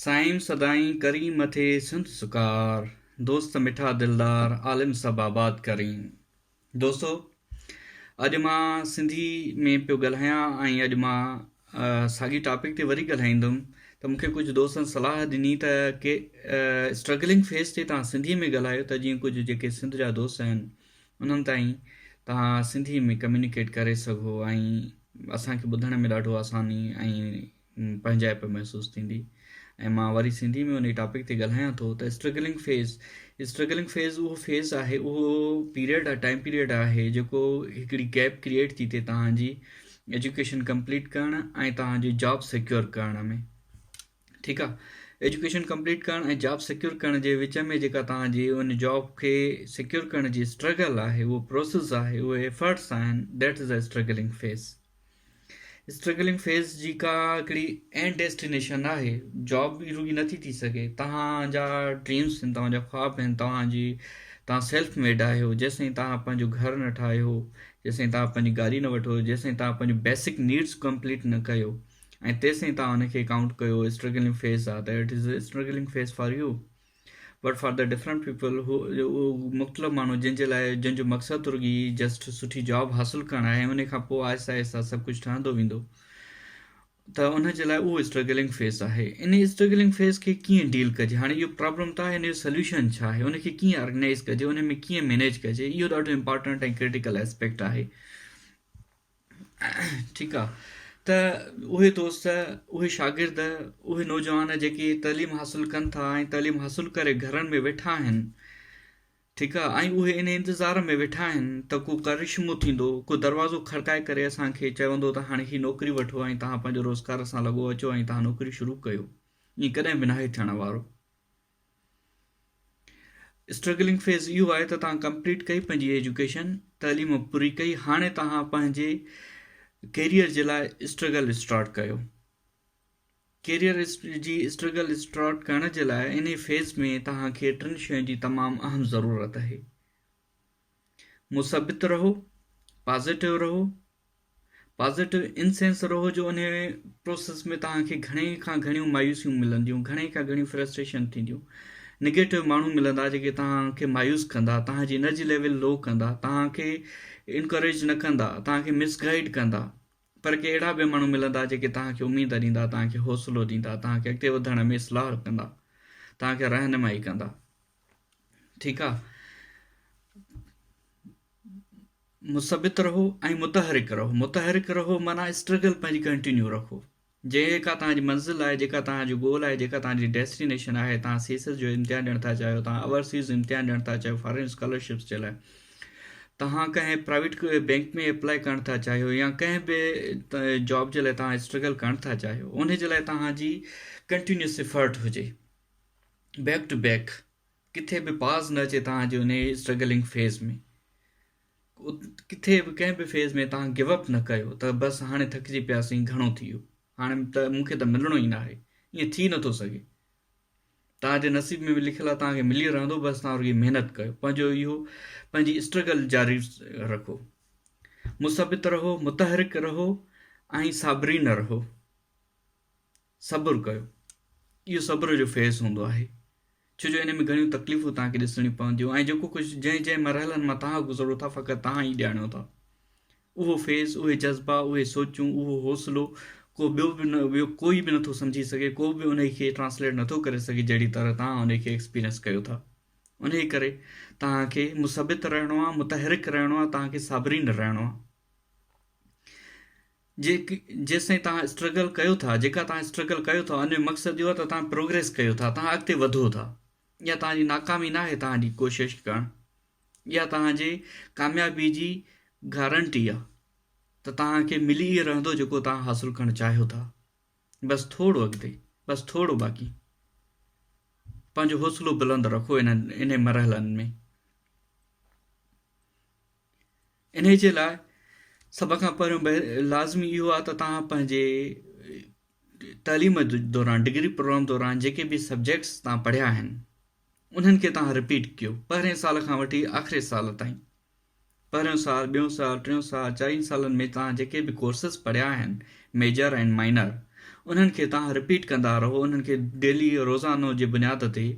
سائين سدائين ڪرين مٿي سنڌ سڪار دوست مٺا دلدار عالم سڀ آباد ڪرين دوستو اڄ مان سنڌي ۾ پيو ڳالهايان ۽ اڄ مان ساڳي ٽاپڪ تي وري ڳالهائيندم ته مونکي ڪجهه دوستن صلاح ڏني ته ڪي اسٽرگلنگ فيس تي تان سنڌي ۾ ڳالهايو ته جيئن ڪجهه جيڪي سنڌ جا دوست آهن انهن تائين تان سنڌي ۾ ڪميونيڪيٽ ڪري سگهو ۽ اسان کي ٻڌڻ ۾ ڏاڍو آساني ۽ پنهنجائپ محسوس ٿيندي ۽ مان وري سنڌي ۾ انهي ٽاپڪ تي ڳالهايان ٿو ته اسٽرگلنگ فيز اسٽرگلنگ فيز اهو فيز آهي اهو پيريڊ آهي ٽائيم پيريڊ آهي جيڪو هڪڙي گيپ ڪريئيٽ ٿي ٿئي توهان جي ايجوڪيشن ڪمپليٽ ڪرڻ ۽ توهان جي جاب سيڪيور ڪرڻ ۾ ٺيڪ آ ايجوڪيشن ڪمپليٽ ڪرڻ ۽ جاب سيڪيور ڪرڻ جي وچ ۾ جيڪا توهان جي ان جاب کي سيڪيور ڪرڻ جي اسٽرگل آهي اهو پروسيس آهي اهي ايفرٽس آهن that is a struggling phase struggling phase جي ڪا هڪڙي اينڊ ڊيسٽينيشن ناهي جاب ئي رڳي نٿي ٿي سگهي توهان جا ڊريمز آهن توهان جا خواب آهن توهان جي توهان سيلف ميڊ آهيو جيسين توهان پنهنجو گهر نه ٺاهيو جيسين توهان پنهنجي گاڏي نه وٺو جيسين توهان پنهنجو بيسڪ نيڊس ڪمپليٽ نه ڪيو ۽ تيسين توهان ان کي ڪائونٽ ڪيو اسٽرگلنگ فيز آهي ته it is struggling phase for you but for the different people هو اهو مختلف ماڻهو جنهن جي لاء جنهن جو مقصد رڳي جسٽ سٺي جاب حاصل ڪرڻ آهي ۽ ان کان پوء آهستي آهستي سڀ ڪجهه ٺهندو ويندو ته ان جي لاء اهو اسٽرگلنگ فيس آهي ان اسٽرگلنگ فيس کي ڪيئن ڊيل ڪجي هاڻي اهو پرابلم ته آهي ان جو سوليوشن ڇا آهي ان کي ڪيئن آرگنائز ڪجي ان ۾ ڪيئن مينيج ڪجي اهو ڏاڍو امپارٽنٽ ۽ ڪرٽيڪل اسپيڪٽ آهي ٺيڪ آ ته اهي دوست اهي شاگرد اهي نوجوان جيڪي تعليم حاصل ڪن ٿا ۽ تعليم حاصل ڪري گهرن ۾ ويٺا آهن ٺيڪ آ ۽ اهي ان انتظار ۾ ويٺا آهن ته ڪو ڪرشمو ٿيندو ڪو دروازو کڙڪائي ڪري اسان کي چوندو ته هاڻي هي نوڪري وٺو ۽ توهان پنهنجو روزگار سان لڳو اچو ۽ توهان نوڪري شروع ڪيو ائين ڪڏهن به ناهي ٿيڻ وارو اسٽرگلنگ فيز اهو آهي ته توهان ڪمپليٽ ڪئي پنهنجي ايجوڪيشن تعليم پوري ڪئي هاڻي توهان پنهنجي ڪيريئر جي لاء اسٽرگل اسٽارٽ ڪيو ڪيريئر جي اسٽرگل اسٽارٽ ڪرڻ جي لاء ان فيز ۾ توهان کي ٽن شين جي تمام اهم ضرورت آهي مثبت رهو پازيٽو رهو پازيٽو ان سينس رهو جو ان پروسيس ۾ توهان کي گهڻي کان گهڻيون مايوسيون ملنديون گهڻي کان گهڻيون فرسٽريشن ٿينديون نيگيٽو ماڻهو ملندا جيڪي توهان کي مايوس ڪندا توهان جي انرجي ليول لو ڪندا توهان کي انڪريج نه ڪندا توهان کي مس گائيڊ ڪندا پر ڪي اهڙا به ماڻهو ملندا جيڪي توهان کي اميد ڏيندا توهان کي حوصلو ڏيندا توهان کي اڳتي وڌڻ ۾ اصلاح ڪندا توهان کي رهنمائي ڪندا ٺيڪ آ مثبت رهو ۽ متحرڪ رهو متحرڪ رهو مانا اسٽرگل پنهنجي ڪنٽينيو رکو جيڪا تان جي منزل آهي جيڪا تان جو گول آهي جيڪا تان جي ڊيسٽينيشن آهي تان سي سيس جو امتحان ڏيڻ ٿا چاهيو تان اورسيز امتحان ڏيڻ ٿا چاهيو فارين اسڪالرشپس جي لاء تان ڪنهن پرائيويٽ بينڪ ۾ اپلائي ڪرڻ ٿا چاهيو يا ڪنهن به جاب جي لاء تان اسٽرگل ڪرڻ ٿا چاهيو ان جي لاء تان جي ڪنٽينيوس افرٽ هجي بيڪ ٽو بيڪ ڪٿي به پاز نه اچي تان جو انهي اسٽرگلنگ فيز ۾ ڪٿي به ڪنهن به فيز ۾ تان گيو اپ نه ڪيو ته بس هاڻي ٿڪجي پياسين گهڻو ٿي ويو هاڻي ته مون کي ته ملڻو ئي نه آهي ائين ٿي نٿو سگهي تان جي نصيب ۾ به لکيل آهي تان کي ملي رهندو بس تان رڳي محنت ڪيو پنهنجو اهو پنهنجي اسٽرگل جاري رکو مثبت رهو متحرڪ رهو ۽ صابرين رهو صبر ڪيو. اهو صبر جو فيز هوندو آهي، ڇو جو ان ۾ گهڻيون تڪليفون توهان کي ڏسڻيون پونديون ۽ جيڪو ڪجهه جنهن جنهن مرحلن مان توهان گذرو ٿا فقط توهان ئي ڄاڻيو ٿا. اهو فيز، اهي جذبا، اهي سوچون، اهو حوصلو ڪو ٻيو به نه ٻيو ڪوئي به نٿو سمجهي سگهي، ڪو به انهي کي ٽرانسليٽ نٿو ڪري سگهي جهڙي طرح توهان انهي کي ايڪسپيرينس ڪيو ٿا. انهي ڪري توهان کي مثبت رهڻو آهي، متحرڪ رهڻو آهي، توهان کي صابرين رهڻو آهي. جيستائين توهان اسٽرگل ڪيو ٿا جيڪا توهان اسٽرگل ڪيو ٿا ان جو مقصد اهو آهي ته توهان پروگريس ڪيو ٿا توهان اڳتي وڌو ٿا اها توهان جي ناڪامي نه آهي توهان جي ڪوشش ڪرڻ اها توهان جي ڪاميابي جي گارنٽي آهي ته توهان کي ملي ئي رهندو جيڪو توهان حاصل ڪرڻ چاهيو ٿا بس ٿورو اڳتي بس ٿورو باقي پنهنجو حوصلو بلند رکو انهن انهن مرحلن ۾ انهيء جي لاء سڀ کان پهريون لازمي اهو آهي ته توهان پنهنجي تعليم دوران ڊگري پروگرام دوران جيڪي به سبجيڪٽس توهان پڙهيا آهن انهن کي توهان رپيٽ ڪيو پهرين سال کان وٺي آخري سال تائين پهريون سال ٻيون سال ٽيون سال چارين سالن ۾ توهان جيڪي به ڪورسز پڙهيا آهن ميجر ۽ مائنر انهن کي توهان رپيٽ ڪندا رهو انهن کي ڊيلي روزانو جي بنياد تي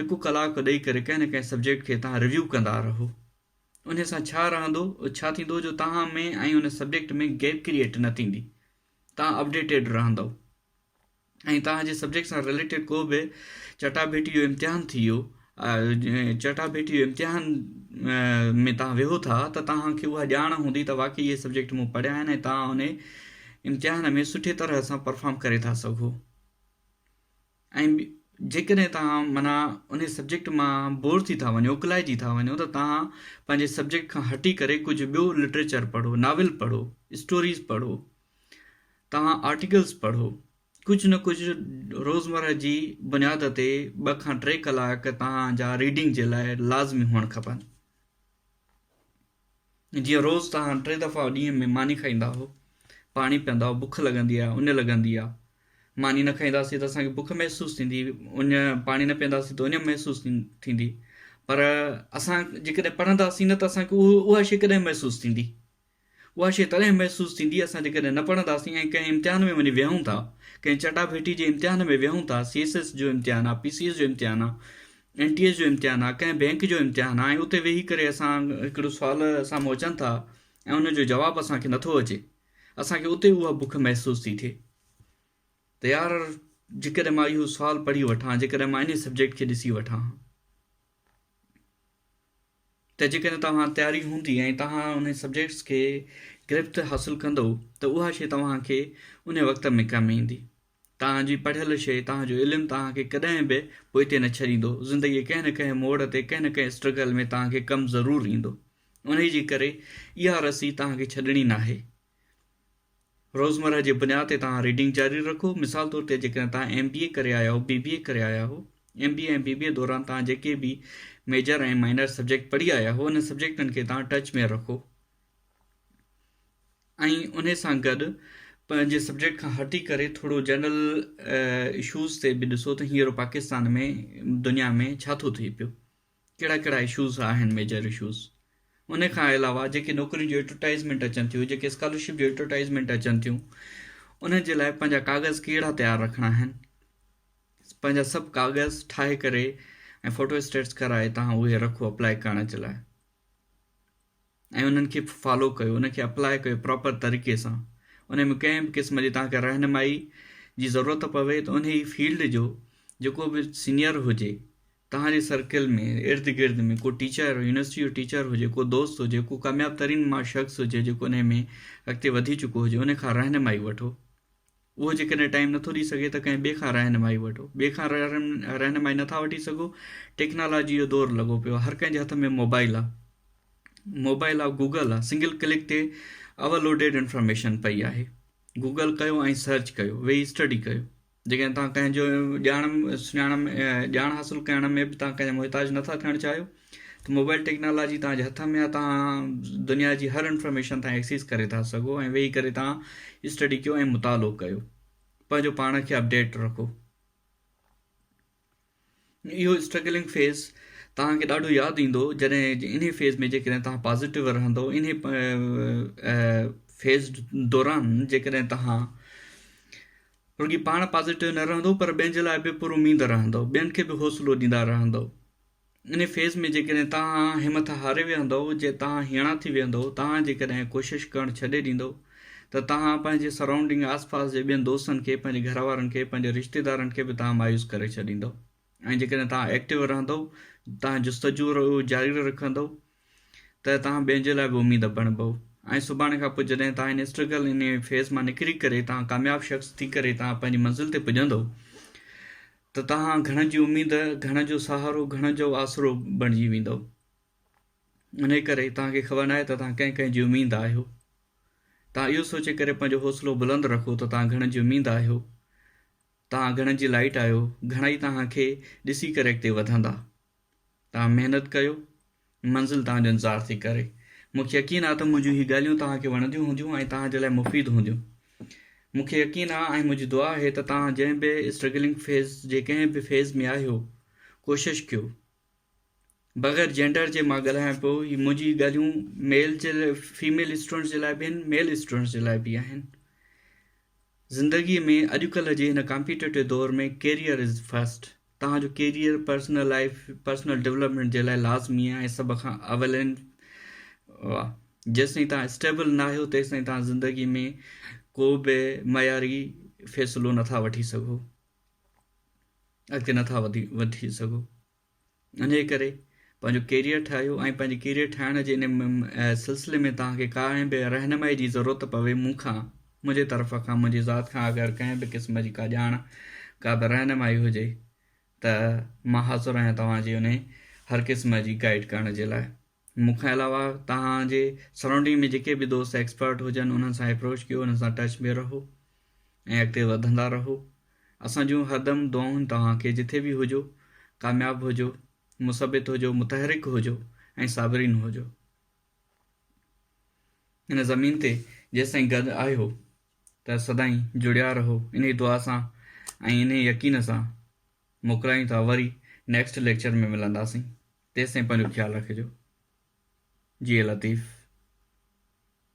هڪ ڪلاڪ ڏئي ڪري ڪنهن نه ڪنهن سبجيڪٽ کي توهان ريويو ڪندا رهو انهي سان ڇا رهندو، ڇا ٿيندو جو توهان ۾ ۽ ان سبجيڪٽ ۾ گيپ ڪريئيٽ نه ٿيندي. توهان اپڊيٽيڊ رهندؤ ۽ توهان جي سبجيڪٽ سان رليٽيڊ ڪو به چٽاڀيٽي جو امتحان ٿي ويو چٽاڀيٽي جو امتحان ۾ توهان ويهو ٿا ته توهان کي اها ڄاڻ هوندي ته واقعي اهي سبجيڪٽ مون پڙهيا آهن ۽ توهان انهي امتحان ۾ سٺي طرح سان پرفارم ڪري ٿا سگهو. ۽ جيڪڏهن توهان معنيٰ انهي سبجيڪٽ مان بور ٿي ٿا وڃو اڪلائجي ٿا وڃو ته توهان پنهنجي سبجيڪٽ کان هٽي ڪري ڪجهه ٻيو لٽريچر پڙهو ناول پڙهو اسٽوريز پڙهو توهان آرٽيڪلز پڙهو ڪجهه نه ڪجهه روزمره جي بنياد تي ٻه کان ٽي ڪلاڪ توهان جا ريڊنگ جي لاء لازمي هئڻ کپن جيئن روز توهان ٽي دفعا ڏينهن ۾ ماني کائيندا آهو، پاڻي پيئندا آهو، بک لڳندي آهي، اڃ لڳندي آهي. ماني نه کائينداسين ته اسان کي بک محسوس ٿيندي، اڃ پاڻي نه پيئنداسين ته اڃ محسوس ٿيندي. پر اسان جيڪڏهن پڙهنداسين نه ته اسان کي اها شيء ڪڏهن محسوس ٿيندي؟ اها شيء تڏهن محسوس ٿيندي اسان جيڪڏهن نه پڙهنداسين ۽ ڪنهن امتحان ۾ وڃي ويهون ٿا، ڪنهن چٽا ڀيٽي جي امتحان ۾ ويهون ٿا، سي ايس ايس جو امتحان آهي، پي سي ايس جو امتحان آهي، اين ٽي ايس جو امتحان آ ڪنهن بينڪ جو امتحان آ ۽ اتي ويهي ڪري اسان هڪڙو سوال سامهون اچن ٿا ۽ ان جو جواب اسان کي نٿو اچي اسان کي اتي اها بک محسوس ٿي ٿئي ته يار جيڪڏهن مان اهو سوال پڙهي وٺان جيڪڏهن مان ان سبجيڪٽ کي ڏسي وٺان ها ته جيڪڏهن توهان تياري هوندي ۽ توهان ان سبجيڪٽس کي گرفت حاصل ڪندو ته اها شيء توهان کي ان وقت ۾ ڪم ايندي توهان جي پڙهيل شيء، توهان جو علم توهان کي ڪڏهن به پوئتي نه ڇڏيندو. زندگيء ڪنهن نه ڪنهن موڙ تي، ڪنهن نه ڪنهن اسٽرگل ۾ توهان کي ڪم ضرور ايندو. انهيء جي ڪري اها رسي توهان کي ڇڏڻي ناهي. روزمرهه جي بنياد تي توهان ريڊنگ جاري رکو. مثال طور تي جيڪڏهن توهان ايم بي اي ڪري آيا آهيو، بي بي اي ڪري آيا آهيو، ايم بي اي ۽ بي بي اي دوران توهان جيڪي به ميجر ۽ مائنر سبجيڪٽ پڙهي آيا آهيو، انهن سبجيڪٽن کي توهان ٽچ ۾ رکو. ۽ انهي سان گڏ پنهنجي سبجيڪٽ کان هٽي ڪري ٿورو جنرل اشوز تي به ڏسو ته هينئر پاڪستان ۾ دنيا ۾ ڇا ٿو ٿئي پيو ڪهڙا ڪهڙا اشوز آهن ميجر اشوز ان کان علاوه جيڪي نوڪرين جون ايڊورٽائزمينٽ اچن ٿيون جيڪي اسڪالرشپ جون ايڊورٽائزمينٽ اچن ٿيون انهن جي لاء پنهنجا ڪاغذ ڪهڙا تيار رکڻا آهن پنهنجا سڀ ڪاغذ ٺاهي ڪري ۽ فوٽو اسٽيٽس ڪرائي تهان اهي رکو اپلائي ڪرڻ جي لاء ۽ انهن کي فالو ڪيو انهن کي اپلاء ڪيو پراپر طريقي سان انهن ۾ ڪنهن به قسم جي توهان کي رهنمائي جي ضرورت پوي ته انهي فيلڊ جو جيڪو به سينئر هجي توهان جي سرڪل ۾ ارد گرد ۾ ڪو ٽيچر يونيورسٽي جو ٽيچر هجي ڪو دوست هجي ڪو ڪامياب ترين شخص هجي جيڪو انهي ۾ اڳتي وڌي چڪو هجي انهي کان رهنمائي وٺو اهو جيڪڏهن ٽائيم نٿو ڏئي سگهي ته ڪنهن ٻئي کان رهنمائي وٺو. ٻئي کان رهنمائي نٿا وٺي سگهو، ٽيڪنالاجي جو دور لڳو پيو آهي، هر ڪنهن جي هٿ ۾ موبائيل آهي، موبائيل آف گوگل آهي، سنگل ڪلڪ تي اول لوڊيڊ انفارميشن پئي آهي، گوگل ڪيو ۽ سرچ ڪيو، ويهي اسٽڊي ڪيو، جيڪڏهن توهان ڪنهن جو ڄاڻ سڃاڻ ڄاڻ حاصل ڪرڻ ۾ به توهان ڪنهن جا محتاج نٿا ٿيڻ چاهيو، ته موبائل ٽيڪنالاجي توهان جي هٿ ۾ آهي توهان دنيا جي هر انفارميشن تان ايڪسيس ڪري ٿا سگهو ۽ ويهي ڪري توهان اسٽڊي ڪيو ۽ مطالعو ڪيو پنهنجو پاڻ کي اپڊيٽ رکو اهو اسٽرگلنگ فيز توهان کي ڏاڍو ياد ايندو جڏهن ان فيز ۾ جيڪڏهن توهان پازيٽو رهندو ان فيز دوران جيڪڏهن توهان رڳي پاڻ پازيٽو نه رهندو پر ٻين جي لاء به پر اميد رهندو ٻين کي به حوصلو ڏيندا رهندو انهيء فيض ۾ جيڪڏهن توهان همٿ هاري ويهندؤ، جي توهان هيڻا ٿي ويهندؤ، توهان جيڪڏهن ڪوشش ڪرڻ ڇڏي ڏيندؤ ته توهان پنهنجي سرائونڊنگ آس پاس جي ٻين دوستن کي، پنهنجي گهر وارن کي، پنهنجي رشتيدارن کي به توهان مايوس ڪري ڇڏيندؤ ۽ جيڪڏهن توهان ايڪٽو رهندؤ، توهان جستجو جاري رکندؤ، ته توهان ٻين جي لاء به اميد بڻبئو ۽ سڀاڻي کان پوء جڏهن توهان ان اسٽرگل ان فيز مان نڪري ڪري توهان ڪامياب شخص ٿي ڪري توهان پنهنجي منزل تي پڄندئو ته توهان گهڻن جي اميد گهڻن جو سهارو گهڻن جو آسرو بڻجي ويندئو انهي ڪري توهان کي خبر ناهي ته توهان ڪنهن ڪنهن جي اميد آهيو توهان اهو سوچي ڪري پنهنجو حوصلو بلند رکو ته توهان گهڻن جي اميد آهيو توهان گهڻن جي لائٽ آهيو گهڻا ئي توهان کي ڏسي ڪري اڳتي وڌندا توهان محنت ڪيو، منزل توهان جو انتظار ٿي ڪري. مون کي يقين آهي ته منهنجون هي ڳالهيون توهان کي وڻنديون هونديون ۽ توهان جي لاء مفيد هونديون. مون کي يقين آهي ۽ منهنجي دعا آهي ته توهان جنهن به اسٽرگلنگ فيز جي ڪنهن به فيز ۾ آهيو ڪوشش ڪيو. بغير جينڊر جي مان ڳالهايان پيو هي منهنجي ڳالهيون ميل جي فيميل اسٽوڊنٽس جي لاء به آهن ميل اسٽوڊنٽس جي لاء به آهن. زندگي ۾ اڄڪلهه جي هن ڪامپيٽيٽو دور ۾ ڪيريئر از فرسٽ. توهان جو career personal life personal development جي لاء لازمي آهي ۽ سڀ کان اول آهن واه جيستائين تان اسٽيبل نه آهيو تيستائين تان زندگي ۾ ڪو به معياري فيصلو نٿا وٺي سگهو اڳتي نٿا وڌي وٺي سگهو انهي ڪري پنهنجو ڪيريئر ٺاهيو ۽ پنهنجي ڪيريئر ٺاهڻ جي ان سلسلي ۾ تان کي ڪا به رهنمائي جي ضرورت پوي مون کان منهنجي طرف کان منهنجي ذات کان اگر ڪنهن به قسم جي ڪا ڄاڻ ڪا به رهنمائي هجي ته مان حاضر آهيان توهان جي انهي هر قسم جي گائيڊ ڪرڻ جي لاء مون کان علاوه توهان جي سرائونڊنگ ۾ جيڪي به دوست ايڪسپرٽ هجن انهن سان اپروچ ڪيو انهن سان ٽچ ۾ رهو ۽ اڳتي وڌندا رهو اسان جون هردم دعائون توهان کي جٿي به هجو ڪامياب هجو مثبت هجو متحرڪ هجو ۽ صابرين هجو هن زمين تي جيستائين گڏ آهيو ته سدائين جڙيا رهو انهي دعا سان ۽ انهي يقين سان موڪلايون ٿا وري نيڪسٽ ليڪچر ۾ ملنداسين تيستائين پنهنجو خيال رکجو جي لطيف.